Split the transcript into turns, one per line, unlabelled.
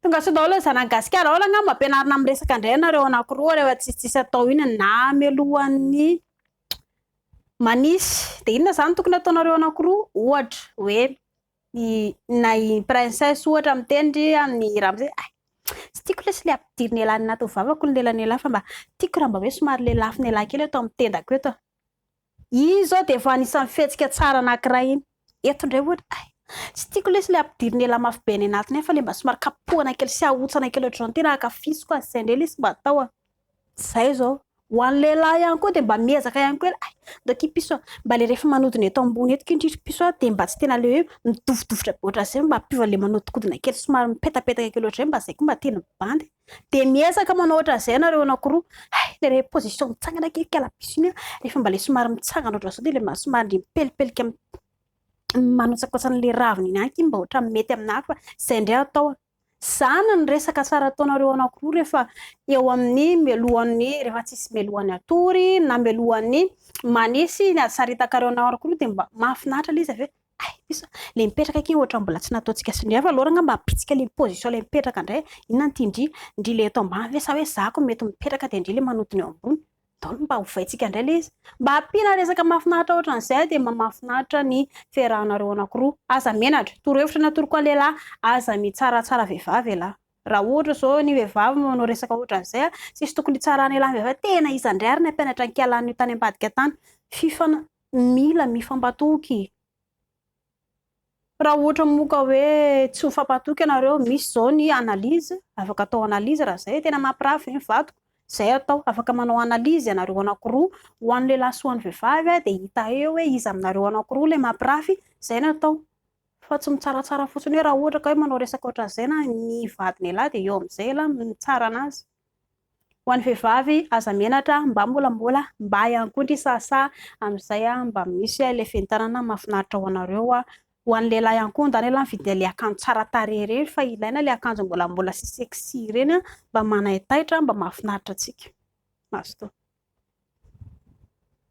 Tongasoa daholo zanany gasikara aola nga mampianarina amin'ny resaka ndray ianareo anakiroa rehefa tsisy tsisy atao iny na melohan'ny manisy de inona zany tokony ataonareo anakiroa ohatra hoe ny na i princesse ohatra miteny ry an'ny ramose ay tsy tiako lesy le ampidiry ny elan'ny anaty vavako ny lelan'ny elahy fa mba tiako raha mba hoe somary lelafy ny elahy kely eto amin'ny tendako eto Iny izao dia efa anisan'ny fihetsika tsara anankiray iny. Eto indray ohatra, hay, tsy tiako lesy ilay ampidiriny ela mafy be any anatiny any fa ilay mba somary kapohana kely sy ahotsana kely ohatr'izao no tena ankafiziko azy, izay indray lesy mba atao an. Izay izao. Ho an'ny lehilahy ihany koa dia mba miezaka ihany koa ialahy, hay, ndao ity piso an, mba ilay rehefa manodina eto ambony eto kintry ry piso an dia mba tsy tena ilay hoe midofodofotra be ohatr'izay fa mba ampiova ilay manodinkodina kely somary mipetapetaka kely ohatr'izay mba izay koa mba tena mibandy e. Dia miezaka manao ohatran'izay ianareo anankiroa. Hay, dia ilay position mitsangana kely kalabisy iny, rehefa mba ilay somary mitsangana ohatran'izao dia ilay somary ndry mipelipelika mi- manotsakotsana ilay ravina iny ihany iny mba ohatran'ny mety aminà fa izay indray atao. Izany ny resaka tsara ataonareo anankiroa rehefa eo amin'ny melohan'ny, rehefa tsisy melohan'ny hatory na melohan'ny manisy ny hasaritakareo anareo anankiroa dia mba mahafinaritra ilay izy avy eo. Hay izy a! Ilay mipetraka akia ohatra mbola tsy nataontsika sy Ndry avy alora angamba hampitsika ilay position ilay mipetraka indray a! Inona no tian'i Ndry? Ndry ilay eto ambany ve sa hoe za ko mety mipetraka dia Ndry ilay manodina eo ambony? Daolo mba hovaintsika indray ilay izy. Mba ampiana resaka mahafinaritra ohatran'izay dia mba mahafinaritra ny fiarahanareo anankiroa. Aza menatra. Torohevitra natoroiko ahy lehilahy, aza mitsaratsara vehivavy ialahy. Raha ohatra izao ny vehivavy no manao resaka ohatran'izay a! Tsisy tokony hitsarana ialahy vehivavy. Tena iza indray ary nampianatra an'ikialahy an'io tany ambadika tany? Fifana. Mila mifampatoky e! Raha ohatra moa ka hoe tsy mifampatoky ianareo, misy izao ny analyse, afaka atao analyse raha izay, tena mampirafy ve ny vadiko? Izay atao, afaka manao analyse ianareo anankiroa, ho an'ny lehilahy sy ho an'ny vehivavy, dia hita eo hoe iza aminareo anankiroa ilay mampirafy, izay no atao. Fa tsy mitsaratsara fotsiny hoe raha ohatra ka hoe manao resaka ohatran'izay na ny vadin'ialahy dia eo amin'izay ialahy mitsara an'azy. Ho an'ny vehivavy aza menatra mba mbola mbola mba ihany koa ndry sasa amin'izay mba misy ilay fentanana mahafinaritra ho anareo a! Ho an'ny lehilahy ihany koa ndany aloha mividy ilay akanjo tsara tarehy ireny fa ilaina ilay akanjo mbola mbola sy sexy ireny a! Mba manaitaitra mba mahafinaritra antsika. Mazotoa.